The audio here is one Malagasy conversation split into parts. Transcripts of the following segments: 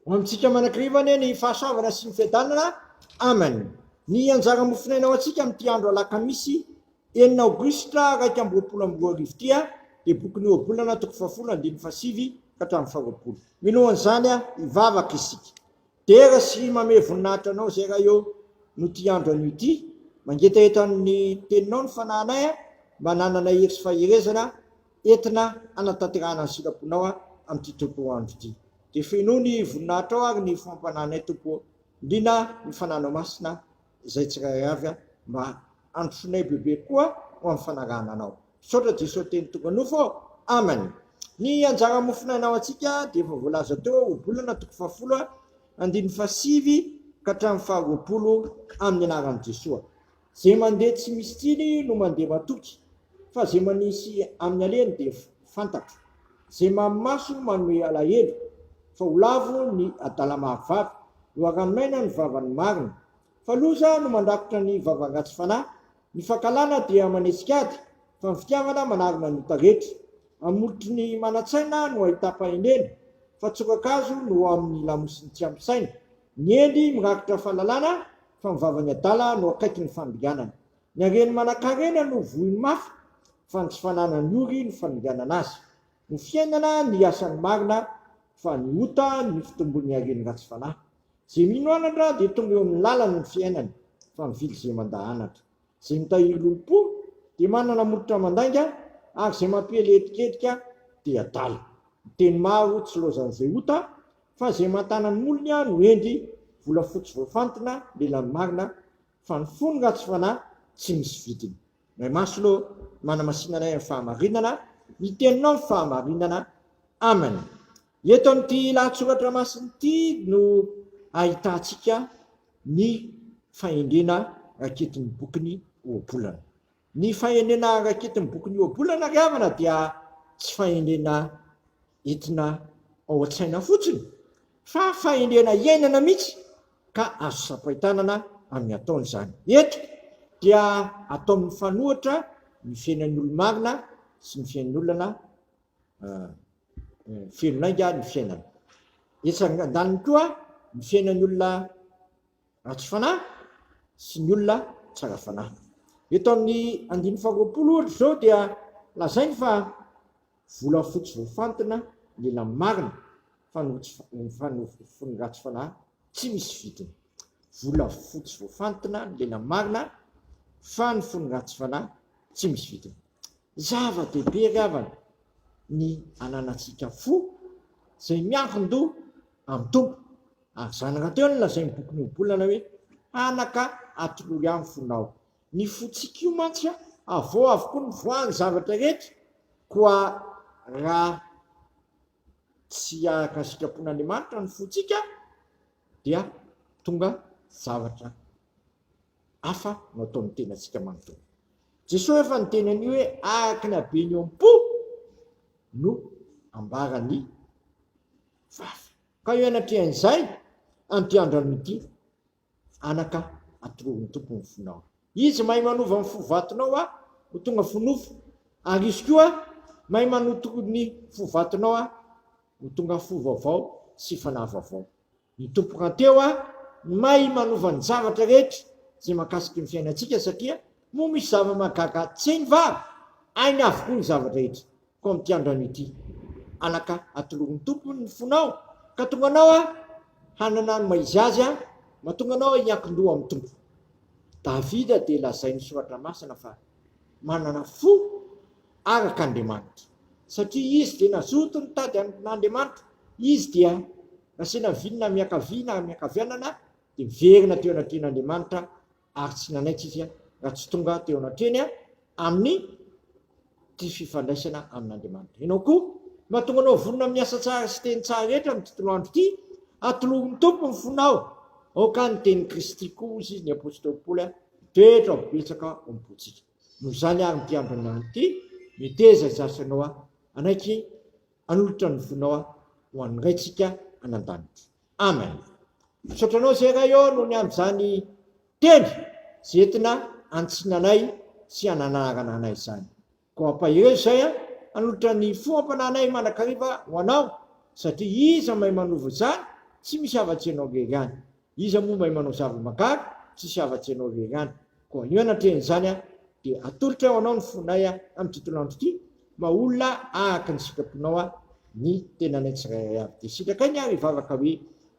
Ho amintsika manakriva anie ny fahasoavana sy ny fiadanana. Amen. Ny anjara mofonaina ho antsika amin'ity andro alakamisy enina aogositra iraika amby roapolo amby roa arivo ity dia bokin'i Ohabolana toko fahafolo andininy fahasivy ka hatramin'ny faharoapolo. Minoa an'izany hivavaka isika. Dera sy mamehy voninahitra anao zay raha eo no tia andro anio ity mangetaheta amin'ny teninao ny fanahinay a mba hananana hery sy faherezana entina hanatanterahana ny sitraponao a amin'ity Tompo o andro ity dia fenoy ny voninahitrao ary ny fampanahinay Tompo o liana ny fanahinao masina izay tsirairay avy a mba handrosoanay bebe koa ho amin'ny fanarahana anao. Misaotra Jesosy teny tonga nofo ô! Amen! Ny anjara mofon'aina ho antsika dia efa voalaza teo ao Ohabolana toko fahafolo andininy fahasivy ka hatramin'ny faharoapolo amin'ny anaran'i Jesoa. Ze mandeha tsy misy tsiny no mandeha matoky fa ze manisy amin'ny alehany dia fantatro. Ze mamy maso manome alahelo fa ho lavo ny adala mahavavy, loharanon'aina ny vavan'ny marina. Fa loza no mandrakotra ny vavan'ratsy fanahy, ny fankahalana dia manesika ady, fa ny fitiavana manarona ny ota rehetra. Amin'ny molotry ny manan-tsaina no ahitam-pahendrena, fa tsoka-kazo no ao amin'ny lamosin'ny tsy ampy saina. Ny hendry mirakitra fahalalana, fa ny vavan'ny adala no akaiky ny fanodinganana. Ny hareny manan-karena no vohiny mafy, fa ny tsy fananany ory no fanodinganana azy. Ny fiainana no hiasa ny marina fa ny ota no fitombon'ny haren'ny ratsy fanahy. Izay mino anatra dia tonga eo amin'ny lalany ny fiainany fa mivily izay mandà anatra. Izay mitahiry lolompo dia manana molotra mandainga ary izay mampiely hetikedika dia adala. Ny teny maro tsy loazan'izay ota fa izay mantàna ny molony no hendry volafotsy voafantina lelan'ny marina fa ny fon'ny ratsy fanahy tsy misy vidiny. Ray Maslo, manamasina anay amin'ny fahamarinana, ny Teninao ny fahamarinana. Amen. Eto amin'ity lahatsoratra masina ity no ahitantsika ny fahendrena raketin'ny bokin'ny Ohabolana. Ny fahendrena raketin'ny bokin'ny Ohabolana ry havana dia tsy fahendrena entina ao an-tsaina fotsiny, Fa fahendrena iainana mihitsy ka azo sampain-tanana amin'ny ataony izany. Eto dia atao mifanohitra ny fiainan'ny olo-marina sy ny fiain'ny olona feno lainga ny fiainana. Etsy andaniny koa ny fiainan'ny olona. ratsy fanahy sy ny olona tsara fanahy. Eto amin'ny andininy faharoapolo ohatra izao dia lazainy fa volafotsy voafantina ny ela marina fa ny fony ratsy fanahy tsy misy vidiny. Volafotsy voafantina ny lela marina fa ny fony ratsy fanahy tsy misy vidiny. Zava-dehibe ry havana ny ananantsika fo izay miankin-doha Amin'ny Tompo. Ary zanaka teo no lazain'ny bokin'i Ohabolana hoe, Anaka, atolory amiko fonao. Ny fontsika io mantsy avao avokoa no voan'ny zavatra rehetra, koa raha tsy araka ny sitrapon'Andriamanitra ny fontsika dia tonga zavatra hafa no ataon'ny tenantsika manontolo. Jesoa efa niteny an'io hoe araka ny habeny eo am-po no ambaran'ny Faf. Ka eo anatrehan'izay antiandrano ity anaka atororin'ny Tompo ny fonao. Izy mahay manova ny fo vatonao a ho tonga fo nofo, ary Izy koa mahay manotoro ny fo vatonao a ho tonga fo vaovao sy fanahy vaovao. Ny Tompo rahateo a no mahay manova ny zavatra rehetra izay mahakasiky ny fiainantsika satria moa misy zava-mahagaga tsenva ainy avokoa ny zava-drehetra. Koa amin'ity androany ity, anaka, atolory ny Tompo ny fonao, ka tonga anao aho hanana ny maha-izy azy ahy, mba tonga anao aho hiankin-doha amin'ny Tompo. Davida dia lazain'ny Soratra Masina fa manana fo araka Andriamanitra, satria izy dia nazoto nitady an'Andriamanitra, izy dia nasina viny na miankavia na miankavianana dia miverina teo anatrehan'Andriamanitra ary tsy nanaiky izy raha tsy tonga teo anatrehany amin'ity fifandraisana amin'Andriamanitra. Ianao koa, mahatonga anao vonona amin'ny asa tsara sy teny tsara rehetra amin'ny tontolo andro ity, atolory ny Tompo ny fonao, aoka ny tenin'i Kristy koa, hoy ny apostoly Paoly, hitoetra ho betsaka ao am-pontsika. Noho izany àry ny mpiandry ny andro ity, meteza izay asanao hanaiky hanolotra ny fonao ho an'ny Raintsika any an-danitra. Amen misaotra anao zay Ray ô noho ny an'izany teny zay entina antsinanay sy ananarana anay izany koa ampaherezo zay an hanolotra ny fo ampananay mandrakariva ho anao satria iza mahay manova izany tsy misy afa-tsy ianao rery ihany iza moa mahay manao zava-magary tsisy afa-tsy ianao rery ihany Koa anio anatrehan'izany dia atolotray ho Anao ny fonay amin'ity tolandro ity, maolona araka ny sitraponao ny tenanay tsirairay avy. Dia sitrakay ny ary hivavaka hoe,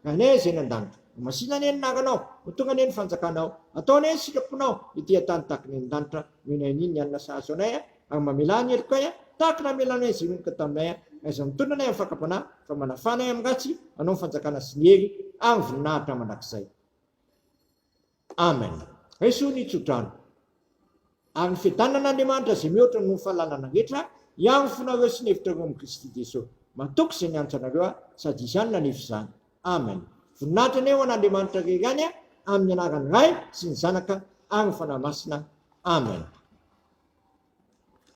Ranay izay any an-danitra, homasina anie ny anaranao, ho tonga anie ny fanjakanao, atao anie ny sitraponao ety an-tany tahaka ny any an-danitra, noho ny haniany ny hanina sahaza anay, ary mamelà ny helokay tahaka ny namelanay izay honoka taminay, aiza mitondra anay amin'ny fakam-panahy, fa manafà anay amin'ny ratsy, anao ny fanjakana sy ny hery ary ny voninahitra mandrakizay. Amen Raiso ny tsodrano ary ny fiadanana Andriamanitra izay mihoatra noho ny fahalalana rehetra hiaro ny fonareo sy ny hevitrareo amin'i Kristy Jesosy matoky izay niantso anareo aho sady izany nanefy izany Amen Voninahitra anie ho an'Andriamanitra rery any a amin'ny anaran'ny Ray sy ny Zanaka ary ny Fanahy Masina Amen.